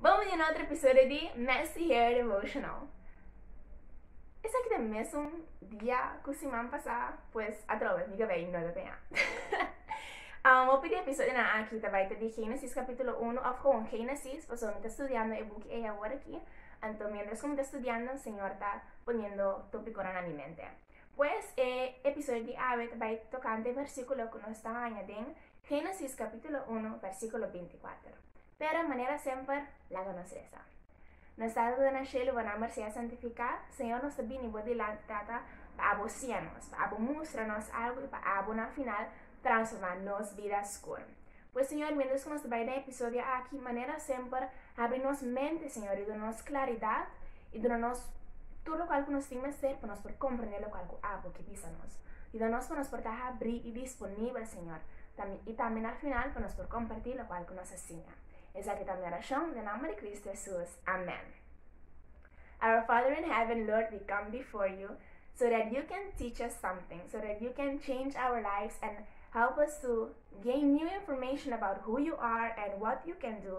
Bon bini na otro episodio di Messy Hair Devotional. Esaki ta mesun dia ku siman pasá, pues atrobe mi kabei no ta peñá. um, hopi di episodionan aki ta bai ta di Génesis kapítulo 1 of gewoon Génesis, paso mi ta studiando e buki ei awor aki. Anto mientras ku mi ta studiando, Señor ta poniendo topikonan na mi mente. Pues e episodio di awe ta bai tokante e versíkulo ku nos ta haña den Génesis kapítulo 1 versíkulo 24. Pero manera semper, laga nos resa. Nos Tata na Shelu bo nomber sea santifica, Señor nos ta bini bo dilanti Tata pa abo sia nos, pa abo mustra nos algo y pa abo na final transforma nos bida skur. Pues Señor mientras cu nos ta bay den episodio aki, manera semper habri nos mente Señor y duna nos claridad I duna nos tur lokal ku nos tin mester pa nos por komprendé lokal ku abo ke bisa nos. Yuda nos pa nos por ta habrí i disponibel, Señor, tambe i tambe na final pa nos por kompartí lokual ku nos a siña. Esaki ta mi orashon den nomber di Kristu Hesus. Amèn. Our Father in Heaven, Lord, we come before you so that you can teach us something, so that you can change our lives and help us to gain new information about who you are and what you can do.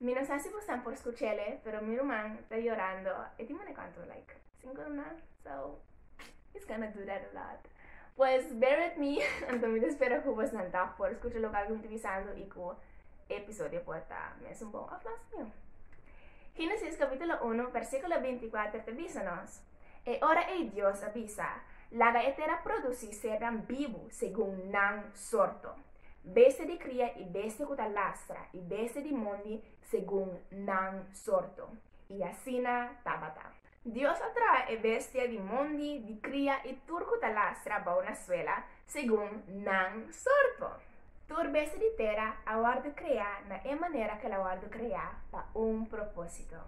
Mi no sa si bosan por scuchele pero mi ruman ta yorando e tin mane cuanto like cinco luna so he's gonna do that a lot pues bear with me anto mi ta spera cu bosan ta por scucha loke algun ta bisando y cu e episodio por ta mes un bon of mas nio Genesis capitulo uno versiculo binti cuater ta bisa nos E ora ei Dios a bisa, Laga e tera producí sernan bibu segun nan sorto, bestia di kria i bestia ku ta lastra i bestia di mondi segun nan sorto. I asina tabata. Dios a traha e bestia di mondi, di kria i tur ku ta lastra bou na suela, segun nan sorto. Tur besti di tera a wòrdu kreá na e manera ku el a wòrdu kreá pa un propósito.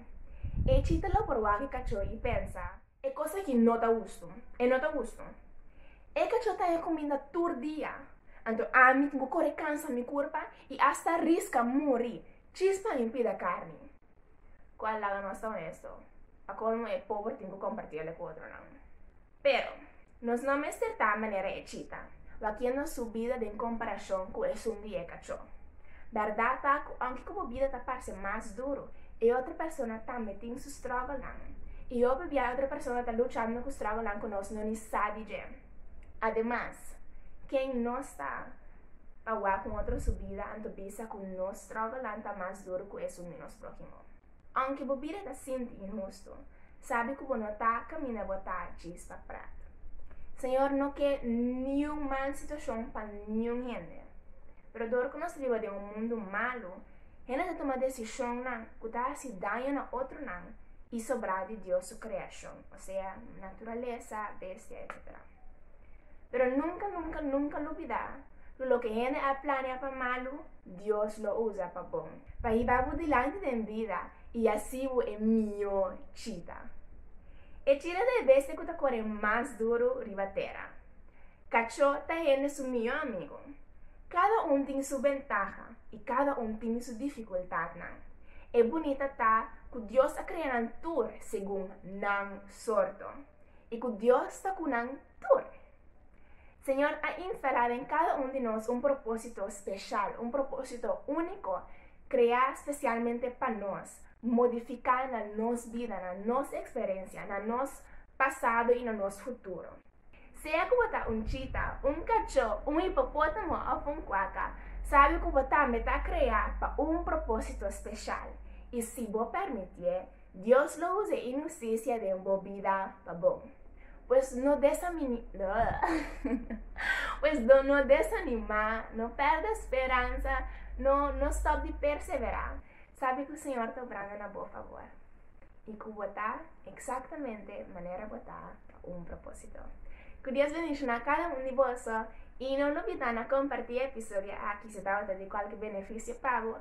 E chita lo por wak e kachó i pensa, E kos aki no ta hustu, e no ta hustu. E kachó ta haña kuminda tur dia, anto ami tin ku kore kansa mi kurpa i asta riska muri chis pa mi pida karni. Kua lado nos ta onesto? Pa kolmo e pober tin ku kompartiel e ku otronan. Pero, Nos no mester ta manera e chita, wakiendo su bida den komparashon ku esun di e kachó. Bèrdat ta ku aunke ku bo bida ta parse mas duru, e otro persona tambe tin su strògolnan. I hopi bia e otro persona ta luchando ku strògolnan ku nos no ni sa di dje. Ademas, ken nos ta pa wak un otro su bida anto bisa ku nos strògolnan ta mas duru ku esun di nos próhimo? Aunke bo bira ta sinti inhusto, sabi ku bo no ta kaminda bo ta djis pa prat. Señor no ke niun mal situashon pa niun hende. Pero dor ku nos riba den un mundu malu, hende ta tuma desishonnan ku ta hasi daño na otronan i sobrá di Dios su kreashon, osea naturalesa, bestia, etsetera. Pero nunka, nunka, nunka lubidá ku loke hende a planea pa malu, Dios lo usa pa bon, pa hiba bo dilanti den bida i asi bo e mihó chita. E chita ta e bestia ku ta kore mas duru riba tera. Kachó ta hende su mihó amigu. Kada un tin su bentaha i kada un tin su difikultatnan. E bunita ta ku Dios a krea nan tur segun nan sorto i ku Dios ta ku nan tur. Señor a instalá den kada un di nos un propósito speshal, un propósito úniko kreá spesialmente pa nos modifiká na nos bida, na nos eksperensia, na nos pasado i na nos futuro. Sea ku bo ta un chita, un kachó, un hipopótamo òf un kuaka, sabe ku bo tambe ta kreá pa un propósito speshal i si bo permitié, Dios lo usa e inusticia den bo bida pa bo. Pues no desamini, pues do no desanima, no perde speransa, no no stop di persevera. Sabi cu Señor ta obrando na bo favor y cu bo ta exactamente manera bo ta pa un proposito. Cu Dios bendiciona cada un di boso y no lubida na comparti e episodio aki si tabata di cualke beneficio pa bo.